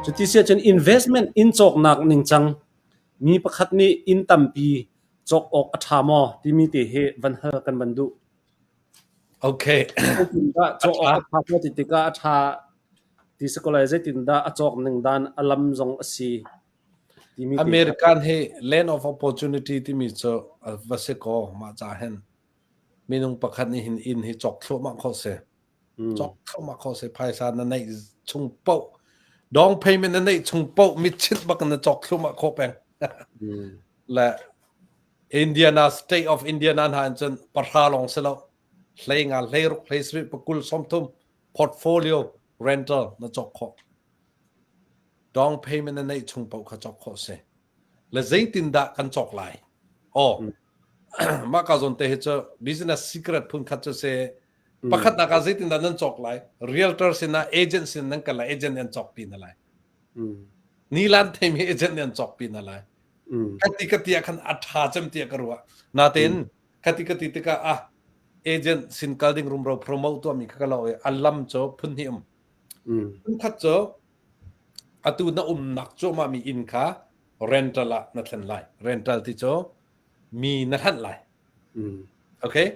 Cuti siahcun investment in cawknak ningcang mi pakhat nih inn tampi cawk awk a ṭha maw timi te hi van hal kan van duh. Okay. Cawk awk a ṭha maw ti tikah a ṭha ti si ko lai, zeitindah a cawk ning dan a lam zong a si. American hi land of opportunity timi cu a va si kaw mah ca hin minung pakhat nih hin inn hi cawk thluahmah kho si. Cawk thluahmah kho si phaisa na neih chung poh down payment na neih chung poh mitchit bak na cawk thluahmah kho peng. Le Indiana state of Indiana hna in cun pahra lawng si lo hlei nga hlei ruk hlei sri pakul somthum portfolio rental na cawk khawh. Dong payment na neih chung paoh kha cawk khawh a si. Le zeitindah kan cawk lai? Aw, mah ka zawn te hi cu business secret phun khat cu si. Pakhatnak ah zeitindah nan cawk lai? Realtor sinah agent sin nan kal ah agent nih an cawk pi na lai. Nilan theimi agent nih an cawk pi na lai. Kati kati ah khan a tha cem tiah ka ruah. Natein kati kati tikah ah agent sin kal ding rumro promote tuahmi kha ka lo i a lam cu phun hnih um Phunkhat cu atu na umnak cuahmahmi inn kha rental ah na thlen lai. Rental ti cu mi na hlanh lai. Okay.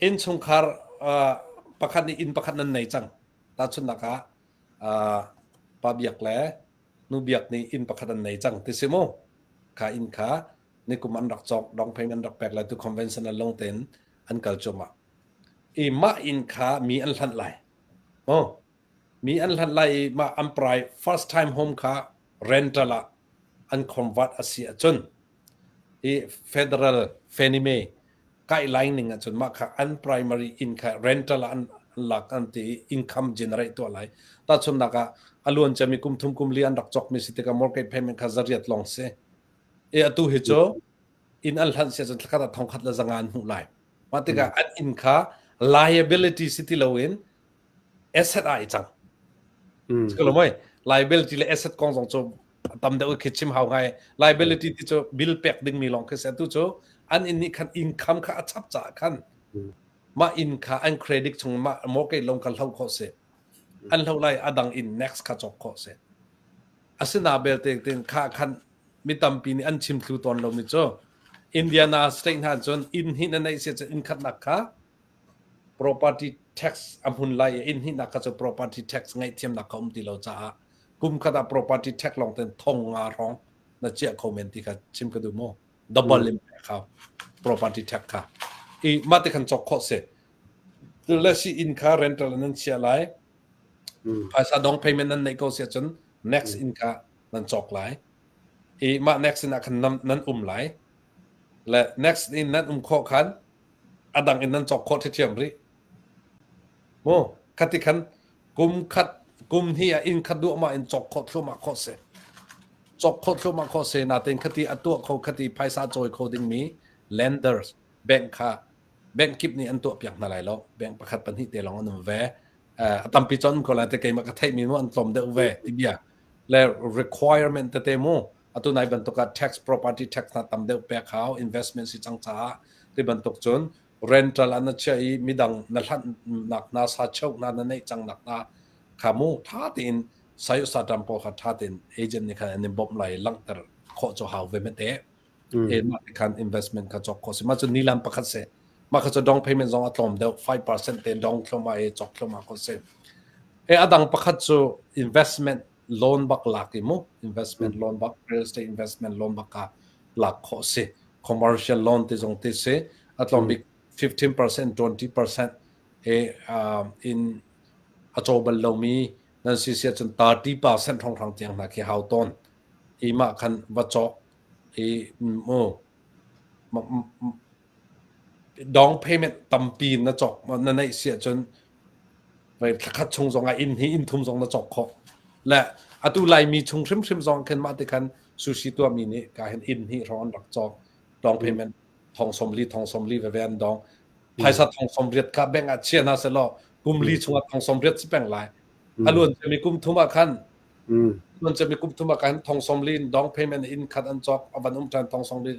Innchungkhar uh, pakhat nih inn pakhat nan nei cang. Tahchunhnak ah uh, pa biak le nu biak nih inn pakhat an nei cang ti si mu. Kha inn kha nikum an rak cawk, dong payment rak pek lai tu conventional long ten an kal cuahmah. I mah inn kha mi an hlanh lai. Aw, mi an hlat lai i mah an prai first time home kha rental ah an khomvat a si ahcun i federal fanime kaihlang ning ahcun mah kha an primary inn kha rental ah an, an lak an ti i income generate tuah lai. Tahchunnak ah a luan cami kum thum kum li an rak cawkmi si tikah mortgage payment kha za riat lawng si. I atu hi cu inn an hlanh si ahcun thlakhat ah thongkhat le zanga an hmuh lai. Mah tikah hmm. an inn kha liability si ti loin asset ah i cang. Hmm. Kalau mai liability le asset kong zong cu tam deuh khi chim hau ngai. Liability ti cu bill pek ding mi lawng khi se tu cu an inn nih khan income kha a chap caah khan hmm. mah inn kha an credit chung mah mortgage lawng kha hloh khawh si. An hlo lai a dang inn next kha chok khawh si. Asina belte tin kha khan mi tampi nih an chim thlu tawn lomi cu Indiana state hna cun inn hinh a neih siah inn khatnak kha property tax a hmun lai i inn hihnak kha cu property tax ngaihthiamnak kha um ti lo caah kum khat ah property tax lawng ten thong nga hrawng na chiah kho men ti kha chim ka duh mu double mm. impact kha property tax kha i mah te khan cok khawh si le si inn kha rental nan sia lai mm. phaisa dong payment nan nei ko sia cun next mm. in kha nan cawk lai i mah next sinah khan nan um lai le next in nan um khawh khan a dang in nan cawk khawh ṭhiṭhiam rih mu khati khan kum khat kum hi a inn khat duhmah in cawk khawh thluahmah khawh si cawk khawh thluahmah khawh se na tein khati a tuah kho khati phaisa cawi kho dingmi lenders bank kha bank kip nih an tuah piak hna lai lo bank pakhat pahnih te lawng an um ve a tampi cun ko lai te keimah ka theimi mu an tlawm deuh ve ti bia le requirement tete mu atu nai bantuk ah tax property tax hna tam deuh pek hau investment si cang caah ti bantuk cun rental an chia i midang na hlan nak na sa cheu na na neih cang nak na kha mu tha tein sayo satam ko kha tha tein agent ni kha an in bom lai langter khawh cho hau ve mete Mm. Mah khan investment kha cawk khawh si. Mah cu nilam pakhat si. Mah kha cu down payment zong a tlawm deuh. 5% te down thloma e cawk thloma ko si. E adang pakhat cu investment loan bak lak i mu. Investment loan bak, real estate investment loan bak ka lak khawh si. Commercial loan te zong te si. A tlawm bik 15%, 20% e in a caw bal lomi nan si si ahcun 30% thong thang tiang hna khi hau tawn. I mah khan va cawk Down payment tampi na cawk na neih si ahcun thla khat chung zong ah inn hi inn thum zong na cawk khawh. Le atu Laimi chung hrimhrim zong khin mah ti khan sushi tuahmi nih ka hin inn hi hrawng an rak cawk. Down payment thong sawmli thong sawmli veve an dong. Phaisa thong sawmriat kha bank ah chia hna selaw kum li chung ah thong sawmriat si peng lai. A luan cemi kum thum ah khan Nun cami kum thum ah khan thong sawm li in down payment inn khat an cawk a van um ṭhan thong sawm li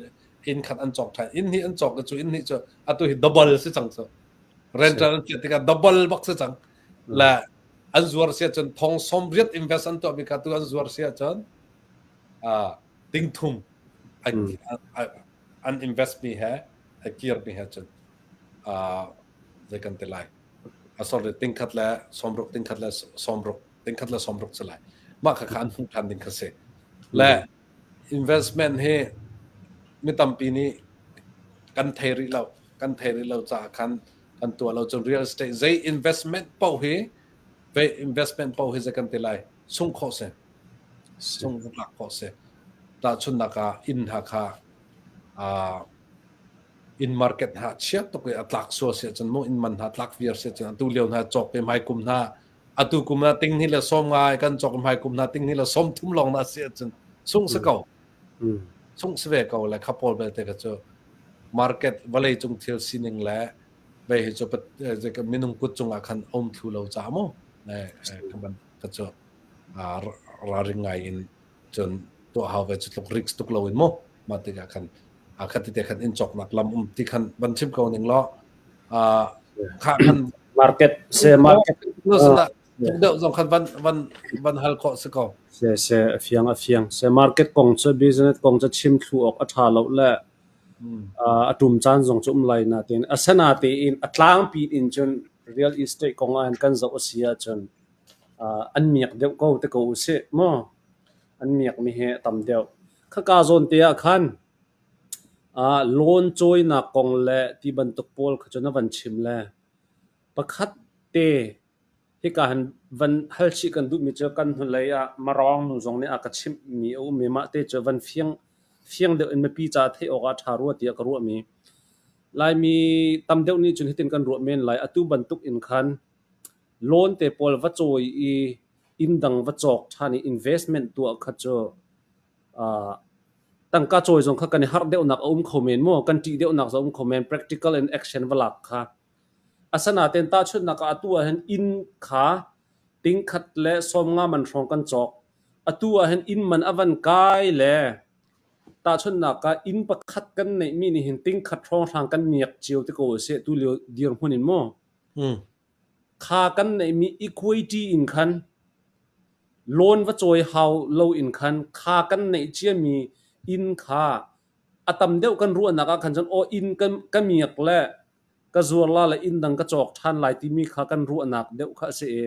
inn khat an cawk ṭhan inn hnih an cawk cu inn hnih cu atu hi double si cang cu rental an chiah tikah double bak si cang la an zuar si ahcun thong sawm riat invest an tuahmi kha tu an zuar si ahcun dingthum an investmi he a kirmi he cun zei kan ti lai sorry tingkhat le sawmruk tingkhat le sawmruk tingkhat le sawmruk cu lai mah kha kha an hmuh ṭhan ding kha si le investment hi mi tampi nih kan thei rih lo kan thei rih lo caah khan kan tuah lo cun real estate zei investment paoh hi vei investment paoh hi zei kan ti lai sung khawh si sung lak khawh si tahchunnak ah inn ha kha uh, inn market hna a chiat tuk i a tlak sual si ahcun maw inn man hna tlak viar si ahcun atu lio hna cawk te hmaikum hna atu kum hna ting ni le sawm nga i kan cawk hmaikum hna ting ni le sawm thum lawng na si ahcun sung si ko sung si ve ko le kha pawl belte ka cu market vawlei cung thil sining le vei hi cu minung kut cungah khan om thlu lo ca mu ne ka ban ka cu ra ring ngai in cun tuah hau ve cu tluk risk tuk lo in mu mah tikah khan a khat te khan in choknak lam um ti khan van chim ko ning law uh, kha kan market se market no sana tuk deuh zong khan van van van hal ko se ko se se afiang afiang se market kong cha business kong cha chim thlu ok atha lo le atum chan zong chum lai na tin asana te in atlang pin in chun real estate kong an kan zo asia chun an miak deuh ko ti ko usih maw. An miakmi hi a tam deuh. Khaka zawn te ah khan ah loan cawinak kong le ti bantuk pawl kha cu na van chim le pakhat te hika han van hal chih kan duhmi cu kan hnulei ah Marawng nu zong nih a ka chimhmi a um i mah te cu van fiang fiang deuh in mipi caah theih awk ah ṭha rua tiah ka ruahmi. Laimi tam deuh nih cun hitin kan ruah men lai. Atu bantuk in khan Loan te pawl va cawi i inn dang va cawk ṭhan i investment tuah kha cu aa tangka cawi zong kha kan i harh deuhnak a um kho men maw? Kan ṭih deuhnak zong a um kho men. Practical and action va lak kha. Asinain tahchunhnak ah atu ahhin inn kha tingkhat le sawmnga man hrawng kan cawk. Atu ahhin inn man a van kai le tahchunhnak ah inn pakhat kan neihmi nih hin tingkhat hrawng hrang kan miak cio ti ko a si. Tulio dirhmun in maw? Hmm. Kha kan neihmi equity in khan loan va cawi hau loin khan kha kan neih ciami inn kha a tam deuh kan ruahnak ah khan cun aw inn ka, ka miak le ka zuarla le inn dang ka cawk ṭhan lai timi kha kan ruahnak deuh kha a si i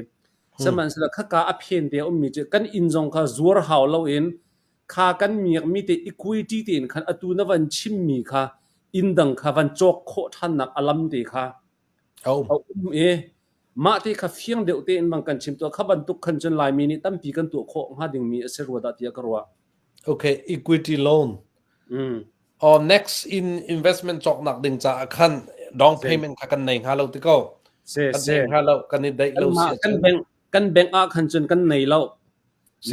sihmanhsehlaw khaka a phen te a ummi cu kan inn zong kha zuar hau loin kha kan miakmi te equity tein khan atu na van chimmi kha inn dang kha van cawk khawh ṭhannak a lam te kha a um i mah ti kha fiang deuh tein bang kan chim tuah kha bantuk khan cun Laimi nih tampi kan tuah khawh hnga dingmi a si rua dah tiah ka ruah. Okay, equity loan. Mm. Uh, next in investment cawknak ding caah khan down payment kha kan nei hnga lo ti ko. Se, kan se. hnga lo kan i daih lo si. Kan bank kan bank ah khan cun kan nei lo.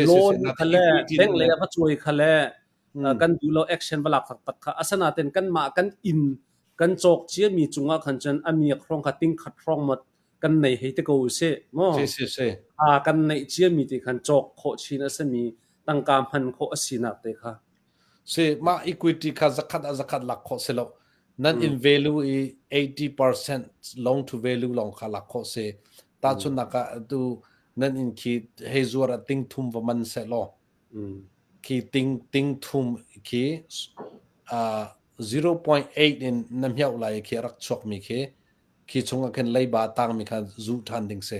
loan kha le bank le a va cuai kha le kan duh lo action va lak fak tak kha asanaten kanmah kan in kan cawk cia mi cungah khan cun amiak hrong kha ting khat hrong mat kan nei hei te ko se mo a kan nei cia mi ti khan cawk kho chin asami tangka man kho asinak te kha si ma equity kha zakhat a zakhat lak kho se lo nan in value i 80% long to value long kha lak kho se ta chun naka tu nan in khi hei zuar a ting thum va man se lo khi tingthum khi 0.8 in na hmeuh lai khi a rak chuakmi khi khi chungah khin leiba tangmi kha zu ṭhan ding si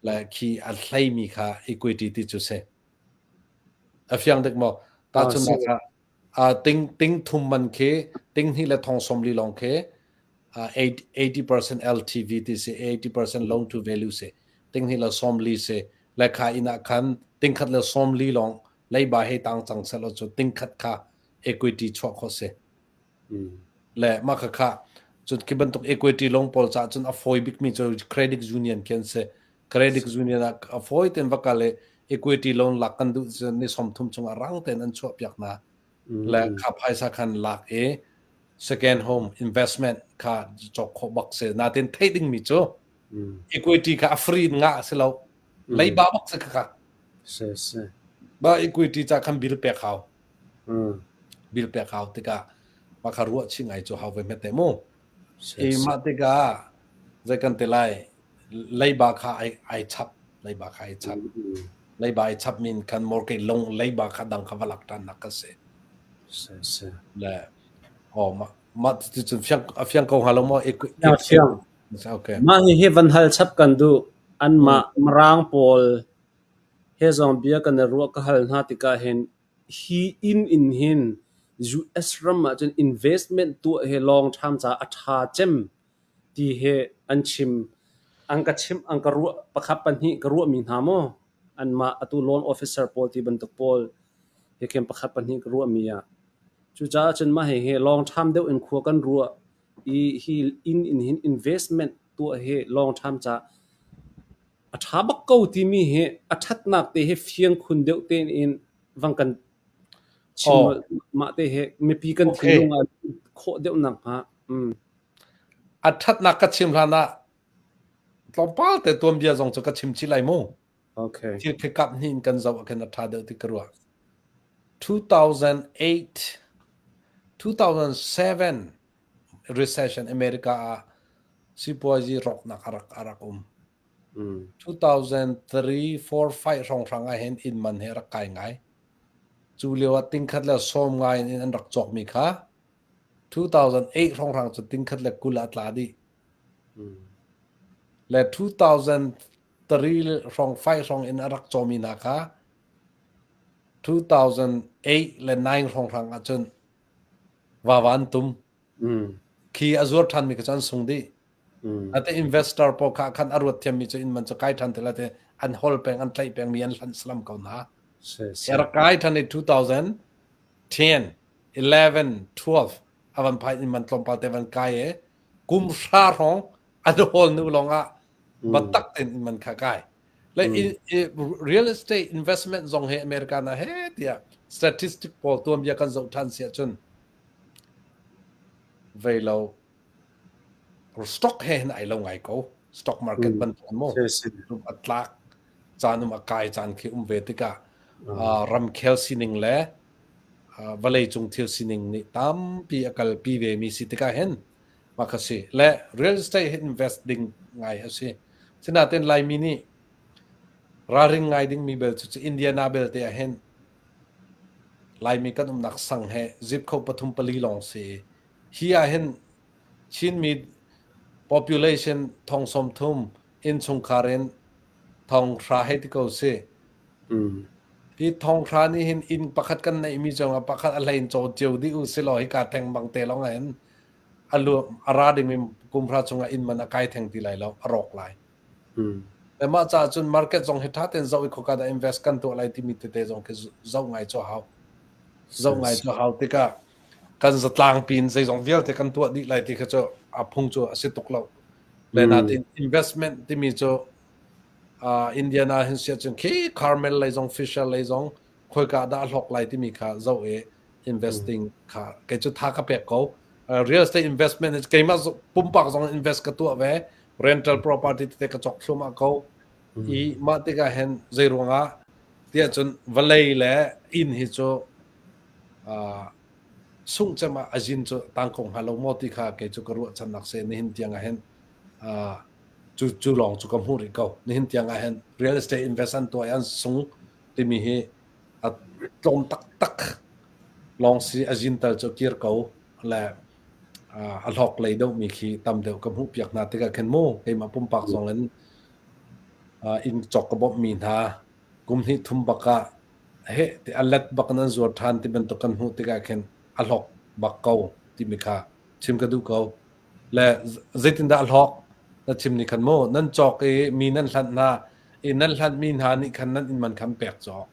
le khi a hleimi kha equity ti cu si a fiang dek maw tahchunhnak ah Ting thum man khi tinghnih le thong sawmli lawng khi 80% LTV ti si, 80% loan to value si, tinghnih le sawmli si. Le kha inn ah khan tingkhat le sawmli lawng leiba hei tang cang selaw cu tingkhat kha equity chuah khawh si. Le mah khakha cun khi bantuk equity lawng pawl caah cun a fawi bikmi cu credit union khi an si. Credit union ah a fawi tein va kal i equity loan lak kan duh cun ni sawmthum chungah rang tein an chuahpiak hna le kha phaisa khan lak i second home investment kha cawk khawh bak si natin theih dingmi cu equity kha a free in ngah a si lo leiba bak si kha si si ba equity ca khan bill pek hau bill pek hau tikah maka ruah chi ngai cu hau ve mette mu Keimah tikah zei kan ti lai, leiba kha ai chap. Leiba kha ai chap. Leiba ai chapmi in khan mor ke lung leiba kha dang kha va lak ṭhannak ka si. Si, si. Le aw mah mah cucun fiang a fiang ko hnga lo maw? Okay. Mah hihi van hal chap kan duh. Anmah Mirang pawl he zong bia kan i ruah ka hal hna tikah hin Hi inn in hin US ram ahcun investment tuah hi lawng ṭham caah a ṭha cem ti hi an chim. An ka chimh, an ka ruah pakhat pahnih ka ruahmi hna maw anmah atu loan officer pawl ti bantuk pawl hi khin pakhat pahnih ka ruahmi ah. Cucaah cun mah hihi lawng ṭham deuh in khua kan ruah i hi inn in hin investment tuah hi lawng ṭham caah A ṭha bak ko timi hi a ṭhatnak te hi fiang khun deuh tein vang kan chim mah te hi mipi kan thinlung ah khawh deuh nakhnga. A ṭhatnak ka chim hlan ah tlawmpal te tuanbia zong cu ka chim chih lai mu. Okay. Thil kekap hnih in kan zoh ahkhin a ṭha deuh ti ka ruah. 2008 2007 recession America ah sipuazi rawknak a rak a rak um. Mm. 2003 4 5 hrawnghrang ah hin inn man hi a rak kai ngai. Cu lio ah tingkhat le sawm ngai in an rak cawk mi kha 2008 hrawnghrang cu tingkhat le kul ah tla dih. Mm. Le 2003 hrawng 5 hrawng in a rak cawmi hna kha 2008 le 9 hrawnghrang ah cun Vava an tum. Khi a zuar ṭhanmi kha cu an sung dih. Ate investor pawl kha khan a ruat thiammi cu inn man cu kai ṭhan ti lai te an hol peng, an tlaih pengmi an hlanh slam ko hna. A rak kai ṭhan i 2010, 11, 12 a van phai inn man tlawmpal te van kai i kum hra hrawng an hol hnu lawngah biatak tein inn man kha a kai. like mm. in, real estate investment zong he america na he tiah statistic pawl tuanbia kan zoh than si ahcun vei lo stock he hin ai lo ngai ko stock market mm. ban tuan mo atlak caan um akai caan khi um ve tikah uh, ramkhel sining le uh, vale cung thil sining nih tampi akalpi ve mi si tikah hen Mah a si. Le real estate hi invest ding ngai a si. Sinain Laimi nih ralring ngai dingmi bel cu Indiana belte ahhin Laimi kan umnak sang he zip kho pathum pali lawng si i hi ahhin Chinmi population thong sawmthum innchungkhar in thong hra hei ti ko si. Hi thong hra nih hin inn pakhat kan neihmi zongah pakhat a hlein caw cio dih u silaw hika theng bang te lawng in a ra ding kumhra cungah inn man a kai theng ti lai lo a rawk lai mah caah cun market zong hi ṭha tein zoh i khoka dah invest kan tuah lai timi tete zong khi zoh ngai cu hau zoh ngai cu hau tikah kan zatlangpi in zeizong vialte kan tuah dih lai ti kha cu a phung cu a si tuk lo le natin investment timi cu Indian ah hin si ahcun khi Carmel lei zong Fisher lei zong khoika dah a hlawk lai timi kha zoh i investing kha kei cu tha ka pek ko real estate investment keimah pumpak zong invest ka tuah ve rental property tete ka cok thlum ah ko i mah tikah hen zei ruangah tiah cun vawlei le inn hi cu sung cem ah azin cu tang kong hnga lo maw ti kha kei cu ka ruahchannak se nihin tiang ah hen cu cu lawng cu ka hmuh rih ko nihin tiang ah hen real estate investment tuah i an sung timi hi a tlawm taktak lawng si a zintal cu kir ko le a hlawk lei deuhmi khi tam deuh ka hmuh piak hna tikah khan mu keimah pumpak zong in inn cawk ka bawmhmi hna kum hnih thum bak ah he ti a let bak nan zuar ṭhan ti bantuk kan hmuh tikah khin a hlawk bak ko timi kha chim ka duh ko Le zeitindah a hlawk? Na chim nih khan mu. Nan cawk i mi nan hlanh hna i nan hlanhmi hna nih khan nan inn man kha an pek cawk.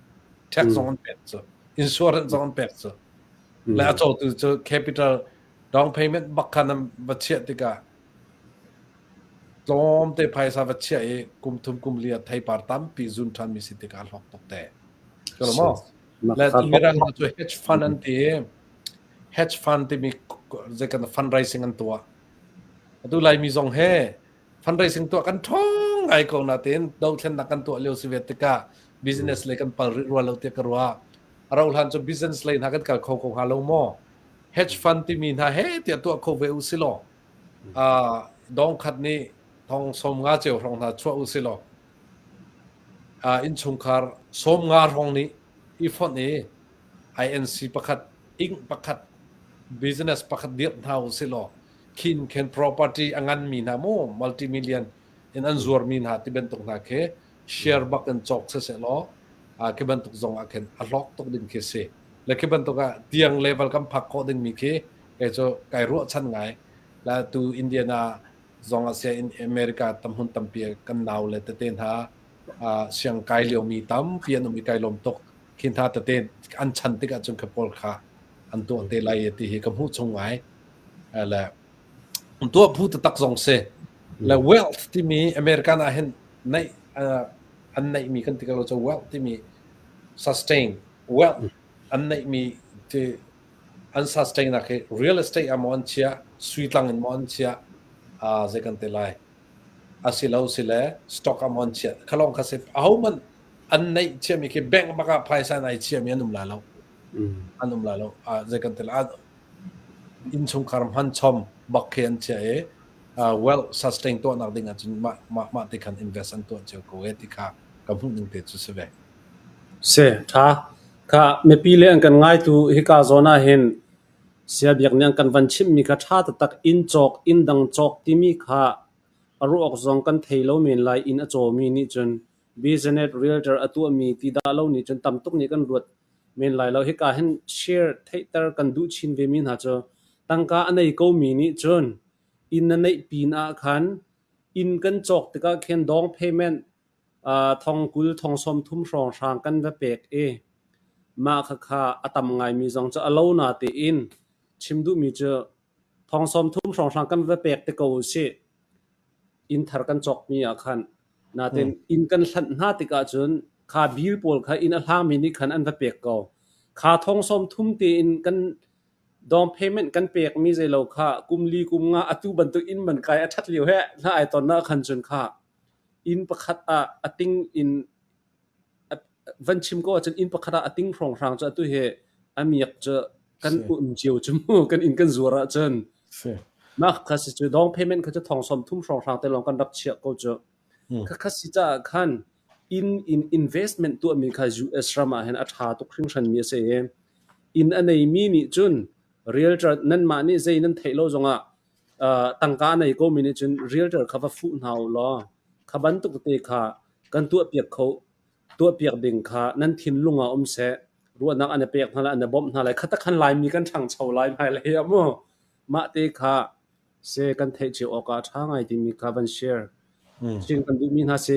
Tax zong an pek cu. Insurance zong an pek cu. Le a cawtu cu capital down payment bak khan an va chiah tikah tlawmte phaisa va chiah i kum thum kum li ah theipar tampi zun ṭhanmi si tikah a hlawk tuk te. Ka lawm maw? Le Mirang hna cu hedge fund an ti i hedge fund timi zeikan fundraising an tuah. Atu Laimi zong he fundraising tuah kan ṭhawng ngai ko natein dothlennak kan tuah lio si ve tikah business lei kan pal rih rua lo tiah ka ruah. A rauh hlan cu business lei hna kan kal kho ko hnga lo maw? Hedge fund timi hna he tiah tuah kho ve u si law, dong khat nih thong sawm nga ceu hrawng hna chuah u si law, innchungkhar sawm nga hrawng nih i fonh i INC pakhat, ing pakhat, business pakhat dirh hna u sihlaw khin khin property a nganmi hna mu multi-million in an zuarmi hna ti bantuk hna khi share bak in cawk siseh law uh, khi bantuk zong ah khin a hlawk tuk ding khi si le khi bantuk ah tiang level kan phak khawh dingmi khi kei cu kai ruahchan ngai la tu Indiana zong ah sia in America tam hun tampi kan nau le tete hna siang kai liomi tampi an um i kai lawm tuk. Khi hna tete an chan tik ahcun ka pawl kha an tuah te lai ti hi ka hmuh chung ngai. Le tuah phu taktak zong si. Le wealth timi American ah hin neih an neihmi kan ti ko cu wealth timi sustain wealth an neihmi ti an sustain nak hi real estate ah maw an chiah sui tlang in maw an chiah zei kan ti lai. Asiloasile stock am on chiah kha lawng kha si ahohmanh an neih chiami khi bank bak ah phaisa in ai chiami an um lai lo. Mm. An um lai lo. Uh, zei kan tel ah innchungkhar hman chom bak khi an chia i uh, wealth sustain tuahnak ding ah cun mah mah mah te khan invest an tuah cio ko e ti kha ka hmuh ning te cu si ve. Se tha. Kha mipi le an kan ngai tu hika zona hin Siabiakniang kan van chimhmi kha ṭha taktak in cawk inndang cawk timi kha a ruah awk zong kan thei lo men lai. Inn a cawmi nih cun business realtor a tuahmi ti dah lo nih cun tam tuk nih kan ruat men lai lo. Hika hin share theihter kan duh chin vemi hna cu tangka a nei komi nih cun inn a neih pin ah khan inn kan cawk tikah khin down payment Thong kul thong sawmthum hrawnghrang kan va pek i mah khakha a tam ngaimi zong cu a lo na tein chim duhmi cu thong sawmthum hrawnghrang kan va pek te ko usih. Inn thar kan cawkmi ah khan. Nain inn kan hlanh hna tikah cun kha bil pawl kha inn a hlangmi nih khan an va pek ko. Kha thong sawmthum tein kan down payment kan pekmi zei lo kha kum li kum nga atu bantuk inn man kai a ṭhat lio heh hna ai tonnak khan cun kha Inn pakhat ah a ting in van chim ko ahcun inn pakhat ah a ting hrawnghrang cu atu hi a miak cu kan um cio cu mu. Kan inn kan zuar ahcun mah kha si cu down payment kha cu thongsawm thum hrawnghrang te lawng kan rak chiah ko cu. Khakha si caah khan inn in investment tuahmi kha US ram ah hin a ṭha tuk hringhranmi a si i inn a neimi nih cun realtor nanmah nih zei nan theih lo zongah tangka a nei komi nih cun realtor kha va fuh hna u law kha bantuk tete kha kan tuahpiak kho tuahpiak ding kha nan thinlung ah um seh ruahnak an i pek hna lai an i bawmh hna lai kha takhan laimi kan ṭhangcho lai hmailei ah mu mah te kha se kan theih cio awkah ṭha ngai timi kha van share chin kan duhmi hna si